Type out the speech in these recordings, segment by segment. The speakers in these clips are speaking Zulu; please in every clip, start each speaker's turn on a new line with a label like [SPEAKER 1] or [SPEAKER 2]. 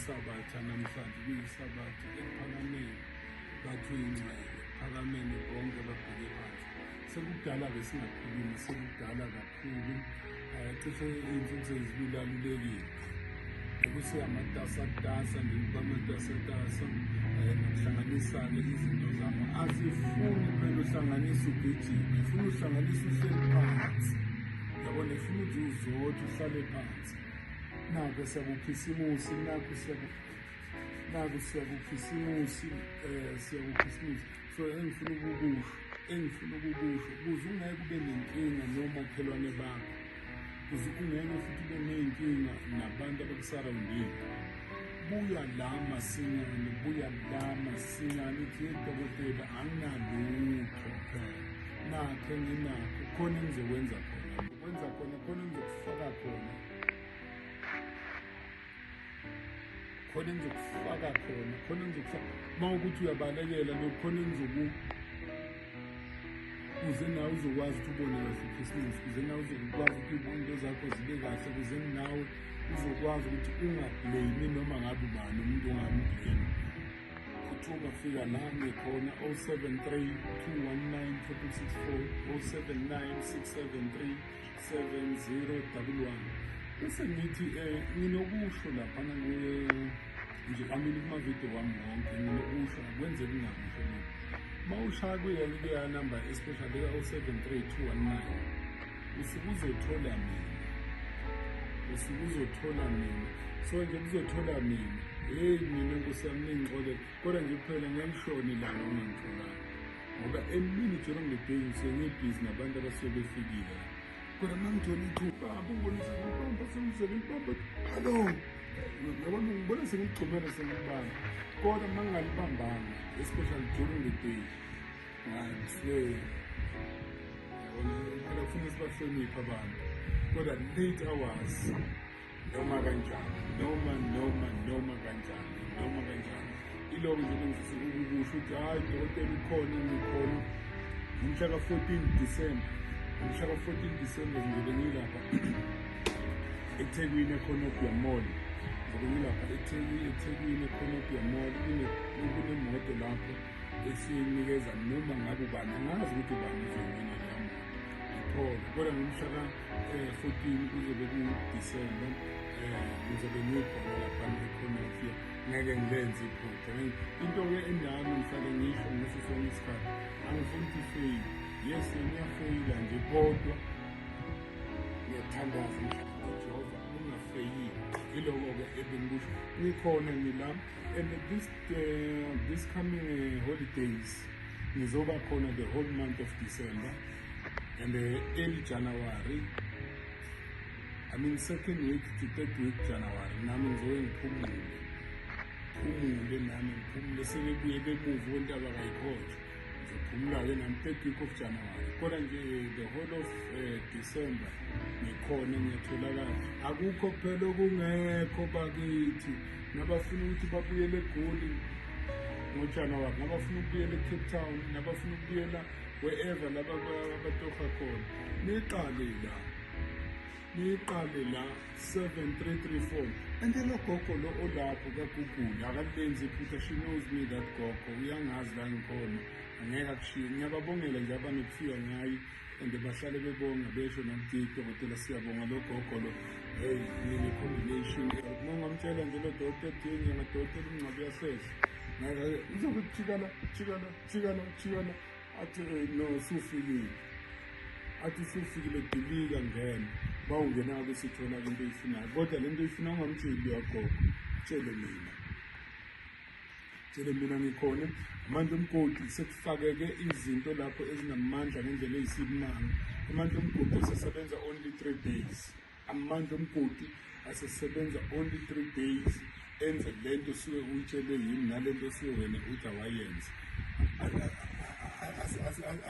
[SPEAKER 1] kuyisabatha namhlanje kuyisabatha ephakameni bathi uyingcwele ephakameni bonke babheke phansi sekudala-ke singakhulumi sekudala cishe iy'nsuku sezilulalulekile ukuthi amatasatasa ngiba amatasatasa eh, nokuhlanganisane izinto zami asifuni phela uhlanganisa ugijima ifuna uhlanganisa uhleli phansi yabona ifuna ukuthi uzothi uhlale phansi nako siyakukhisimusi nako siyakukhisimusi um eh, siyakukhisimusi so engifuna ukukusho engifuna ukukusho kuze ungeke ube nenkinga nomakhelwane bakho kuze ungeke futhi ube ney'nkinga nabantu abakusarawundile buya la masinyane buya la masinyane ithi yedokotela anginalutho nakhe nginakho khona engizokwenza khona ukwenza khona khona engizokufaka khona khona engizokufaka khona khona engizokufaka uma ukuthi uyabalekela lokhu khona engizoku kuze nawe uzokwazi ukuthi ubone kahle ikhisimusi kuze nawe uzokwazi ukuthi izinto zakho zibe kahle kuze nawe uzokwazi ukuthi ungableyimi noma ngabe ubani umuntu ongambleyimi ukuthi ungafika la ngikhona 073 219 3664 079 673 7011 bese ngithi eh nginokusho lapha kuye nje amini kuma video wami wonke nginokusho akwenze kungakusho mina mawushaya kuye ke ya number especially ka 073219 usuke uzothola mina usuke uzothola mina so nje kuzothola mina hey mina nkosi yami ningixolele kodwa nje kuphela ngiyangihloni ilanga ongangitholanga ngoba emini jona ngiledeyi ngisengibhizi nabantu abasuke befikile kodwa uma ngithola iqhuba abonisa ngibamba semzele ngibamba hallo yabona ngibona sengigxumele sengibamba kodwa uma ngingalibambanga especially jona ngedeyi ngisle yabona phela kufuneka sibahloniphe abantu kodwa late hours noma kanjani noma noma noma kanjani noma kanjani iloko ngisebenzisa ukukusho ukuthi hhayi dokotela ukhona ngikhona ngomhla ka-fourteen december ngomhla ka-fourteen december ngizobe ngilapha ethekwini ekhonobia mall ngizobe ngilapha ethekwini ekhonobia mall kunemoto lapho esiyinikeza noma ngabe ubani angazi ukuthi ubani izongenela yamoto ngithole kodwa ngomhla 14 kuzobe kuDisemba um ngizobe ngiyokhona laphana ekhonafia ngeke ngilenze iphutha into-ke endami ngihlale ngisho ngaso sonke isikhathi angifuni ukuthi ifeyile yes ngiyafeyila nje kodwa ngiyathandaza ngihlala ujehova ungafeyile yiloko-ke ebengikusho ngikhona ngila and this, uh, this coming uh, holidays ngizoba khona the whole month of december and the early January I mean second week to third week January nami ngizoke ngiphumule phumule nami ngiphumule sebebuye bemuva ontaba kayikhotshwa ngizophumula-ke nami third week of January kodwa nje the whole of uh, December ngikhona ngiyatholakala akukho phela okungekho bakithi nabafuna ukuthi babuyele egoli ngojanuwari nabafuna ukubuyela ecape town nabafuna ukubuyela wherever laba abatofa khona niqale la niqale la 7334 and lo gogo lo olapho kagugule akalenzi iphutha she knows me that gogo uyangazi la ngikhona angeke akushiye ngiyababongela nje abanokufika ngayi and bahlale bebonga besho namdidi dokotela siyabonga lo gogo lo hey yini combination nongamtshela nje lo dokotela dini yamadoda elingcwabi yasehla ngeke uzokujikana jikana Chiyana chiyana athi eh, no sufikile athi usufikile dilika ngena ba ungena ke sithola into eyifunayo kodwa lento ifuna ungamtsheli uyagogo tshele mina tshele mina ngikhona amandla omgodi sekufakeke izinto lapho ezinamandla ngendlela eyisimanga amandla omgodi sesebenza only 3 days amandla omgodi asesebenza only three days enze le nto suke uyitshelwe yini nale nto suke wena uthi awayenze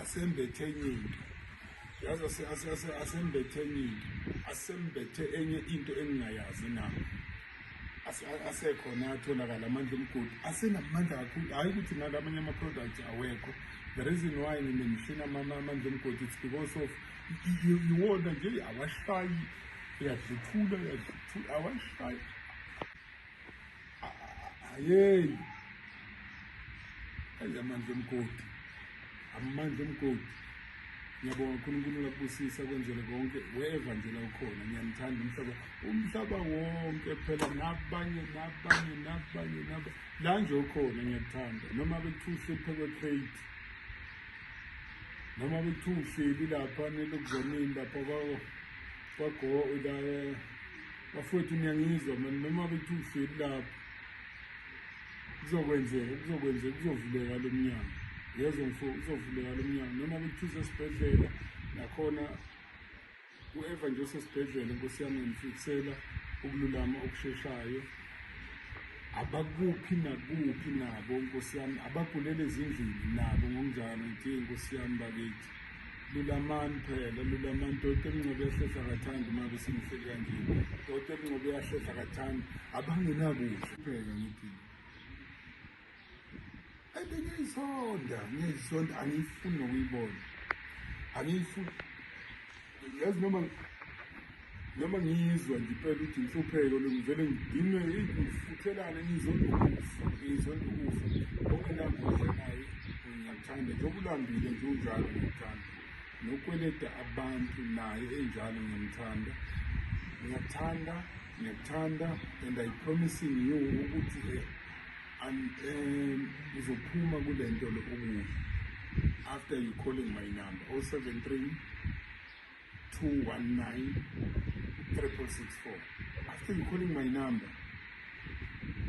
[SPEAKER 1] asembethe enye into yazi asembethe enye into asembethe enye into engingayazi na asekhona atholakala amandla omgodi asenamandla kakhulu hhayi ukuthi nala amanye ama-product awekho the reason why ngine mishini amandla omgodi it's because of iwona nje awashayi uyadluthula uyadluthula awashayi ayeni ayi amandla omgodi amandla omgodi ngiyabonga unkulunkulu lakubusisa kwenzele konke weva nje la ukhona ngiyanithanda umhlaba umhlaba wonke phela nabanye nabanye nabanye naba la nje ukhona ngiyakuthanda noma bekuthuhluphe kwe-crate noma bekuthiwa uhleli lapha nelokuzamini lapha kwago la bafowethu niyangizwa mani noma bekuthiwa uhleli lapha kuzokwenzeka kuzokwenzeka kuzovuleka lo mnyango yezo mfo kuzovuleka lo mnyango noma bekuthiwa usesibhedlela nakhona U-Eva nje usesibhedlela nkosi yami ngifikisela ukululama okusheshayo abakuphi nakuphi nabo nkosi yami abagulele ezindlini nabo ngokunjalo nje nkosi yami bakithi lulamani phela lulamani doti emncobe yahlehla kathandi uma besingihleli kanje doti emncobe yahlehla kathandi abangenakudla phela ngithi Ngiyisonda, ngiyisonda, angiyifuni nokuyibona. Angiyifuni. Yazi noma noma ngiyizwa nje impela ukuthi inhlupheko ngivele ngidinwe ngifuthelane ngizonda ukufa, ngizonda ukufa. Okunambuza naye ngiyakuthanda njengoba ulambile nje unjalo ngiyakuthanda. Nokweleta abantu naye enjalo ngiyamthanda. Ngiyakuthanda, ngiyakuthanda and I promising you ukuthi um uzophuma kule nto lo okuhle after you calling my number 073 219 3664 after you calling my number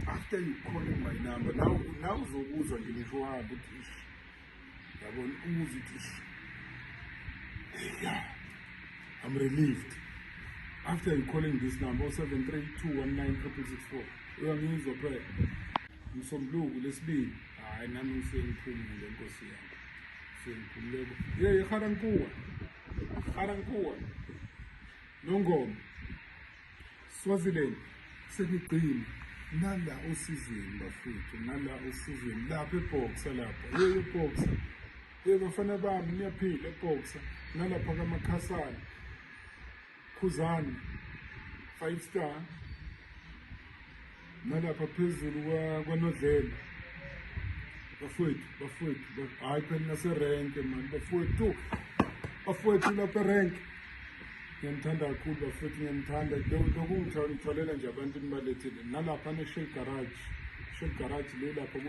[SPEAKER 1] after you calling my number now now uzokuzwa nje ngisho wabo ukuthi yabona umuzi ukuthi yeah i'm relieved after you calling this number 0732196664 uyangizwa phela msombuluku lesibili hayi nami ngisengiphumule nkosi yami sengiphumule ye iharankuwa iharankuwa nongoma Swaziland sekugcina nala osizweni bafethu nala osizweni lapha ebhoxa lapha yeye ebhoxa ye bafana bami niyaphila ebhoxa nalapha kamakhasana khuzani five star nalapha phezulu kwanodlela bafowethu bafowethu hhayi phela naserenke mani bafowethu bafowethu lapha erenke ngiyamthanda kakhulu bafowethu ngiyamthanda lokungithwalela nje abantu nibalethile nalapha ne-shell garage shell garage le lapha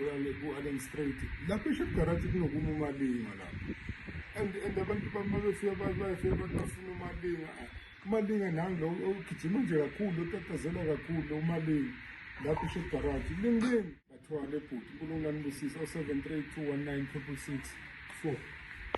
[SPEAKER 1] ku-allen street lapha i-shell garage kunokuma umalinga lapha and and abantu bamabefika bayafika abantu bafuna umalinga umalinga nangi lo ugijima nje kakhulu otatazela kakhulu umalinga lapho usho ibharaji linqini bathwale bhuti unkulunkulu anibusise o-seven three two one nine triple six four